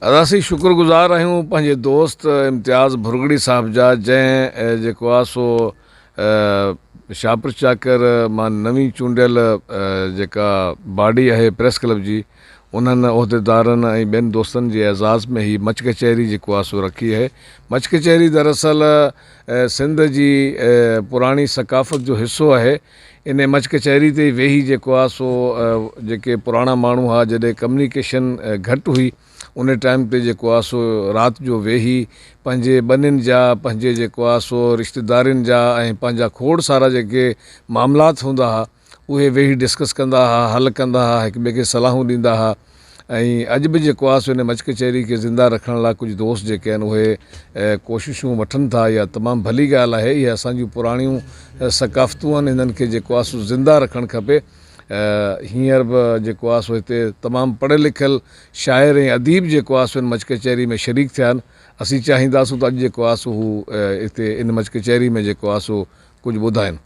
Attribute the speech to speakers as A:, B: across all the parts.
A: اسين شڪر گذار آهيون پنهنجي دوست امتياز ڀرڳڙي صاحب جا جنهن جيڪو آهي سو شاهپور چاڪر مان نوين چونڊيل جيڪا باڊي آهي پريس ڪلب جي انهن عهديدارن ۽ ٻين دوستن جي اعزاز ۾ هي مچ ڪچهري جيڪو آهي سو رکي آهي مچ ڪچهري دراصل سنڌ جي پراڻي ثقافت جو حصو آهي انهيء مچ ڪچهري تي ئي ويهي جيڪو آ سو جيڪي پراڻا ماڻهو ها جڏهن ڪميونيڪيشن گهٽ هئي انهيء ٽائيم تي جيڪو آ سو رات جو ويهي پنهنجي ٻنين جا پنهنجي جيڪو آ سو رشتيدارين جا ۽ پنهنجا کوڙ سارا جيڪي معاملات هوندا ها اهي ويهي ڊسڪس ڪندا ها حل ڪندا ها هڪ ٻئي کي صلاحون ڏيندا ها ۽ اڄ به جيڪو آهي سو ان مچ ڪچهري کي زنده رکڻ لاء ڪجهه دوست جيڪي آهن اهي ڪوششون وٺن ٿا اها تمام ڀلي ڳالهه آهي اهي اسان جون پراڻيون ثقافتون آهن انهن کي جيڪو آهي سو زنده رکڻ کپي هينئر به جيڪو آهي سو هتي تمام پڙهيل لکيل شاعر ۽ اديب جيڪو آهي سو ان مچ ڪچهري ۾ شريڪ ٿيا آهن اسين چاهينداسون ته اڄ جيڪو آهي سو هو هتي ان مچ ڪچهري ۾ جيڪو آهي سو ڪجهه ٻڌائن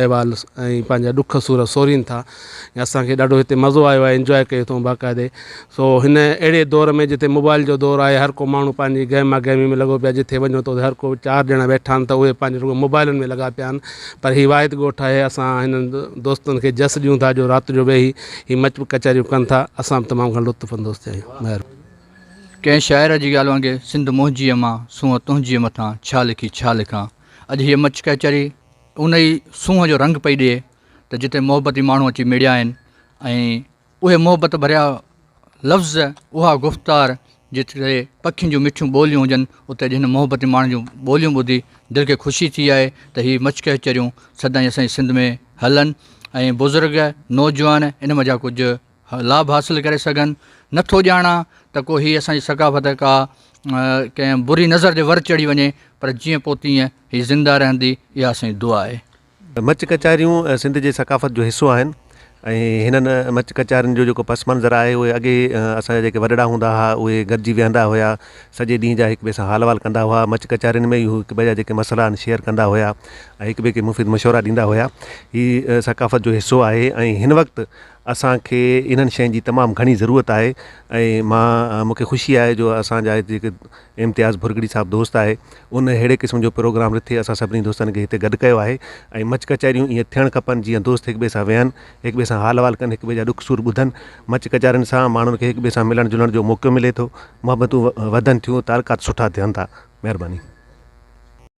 B: احوال ۽ پنهنجا ڏک سور سورين ٿا ۽ اسان کي ڏاڍو هتي مزو آيو آهي انجوائي ڪيو اٿئون باقاعدي سو هن اهڙي دور ۾ جتي موبائل جو دور آهي هر ڪو ماڻهو پنهنجي گهميا گهمي ۾ لڳو پيو آهي جتي وڃو ته هر ڪو چار ڄڻا ويٺا آهن ته اهي پنهنجي رڳو موبائلن ۾ لڳا پيا آهن پر هي واحد ڳوٺ آهي اسان هنن دوستن کي جس ڏيون ٿا جو رات جو ويهي هي مچ ڪچهريون ڪن ٿا اسان به تمام گهڻو لطف اندوز ٿيا آهيون مهرباني. ڪنهن
C: شاعر جي ڳالهه وانگي سنڌ منهنجيء مان سونهن تنهنجيء مٿان ڇا لکي ڇا لکان اڄ هيء مچ ڪهچري. ان ئي سونهن جو رنگ پئي ڏئي ته جتي محبتي ماڻهو اچي مڙيا آهن ۽ اهي محبت ڀريا لفظ اها گفتار جتي پکين جون مٺيون ٻوليون هجن اتي اڄ هن محبتي ماڻهن جون ٻوليون ٻڌي دل کي خوشي ٿي آهي ته هي مچڪهچريون سدائين اسان جي سنڌ ۾ هلن ۽ بزرگ نوجوان ان مان جا ڪجهه لاڀ حاصل ڪري سگهن، نه ٿو ڄاڻان ته ڪو هي اسان جي ثقافت ڪا ڪنهن بري نظر جي ور چڙهي وڃي، پر جيئن پوء تيئن هي زنده رهندي، اها اسان جي دعا آهي. مچ ڪچهريون
D: سنڌ جي ثقافت جو حصو آهن ۽ هنن مچ ڪچهرين جو جيڪو پس منظر آهي اهي اڳي اسان جا جيڪي وڏڙا هوندا ها اهي گڏجي ويهندا هيا سڄي ڏينهن جا هڪ ٻئي سان حال احوال ڪندا هئا مچ ڪچهرين ۾ ئي هو هڪ ٻئي جا جيڪي مسئلا آهن شيئر ڪندا هيا ۽ هڪ ٻئي کي مفيد مشورا ڏيندا هيا هي ثقافت جو حصو آهي ۽ هن وقت اسان کي انهن شين جي تمام گهڻي ضرورت آهي ۽ مان مون کي خوشي آهي جو اسان جا هتي هڪ امتياز ڀرڳڙي صاحب دوست آهي ان اهڙي قسم جو پروگرام رٿي اسان سڀني دوستن کي هتي گڏ ڪيو آهي ۽ مچ ڪچهريون ايئن ٿيڻ کپن جيئن دوست هڪ ٻئي سان ويهن هڪ ٻئي سان حال احوال ڪن هڪ ٻئي جا ڏک سور ٻڌن مچ ڪچهرين سان ماڻهن کي هڪ ٻئي سان ملڻ جلڻ جو موقعو ملي ٿو محبتون وڌن ٿيون تعلقات سٺا ٿين ٿا مهرباني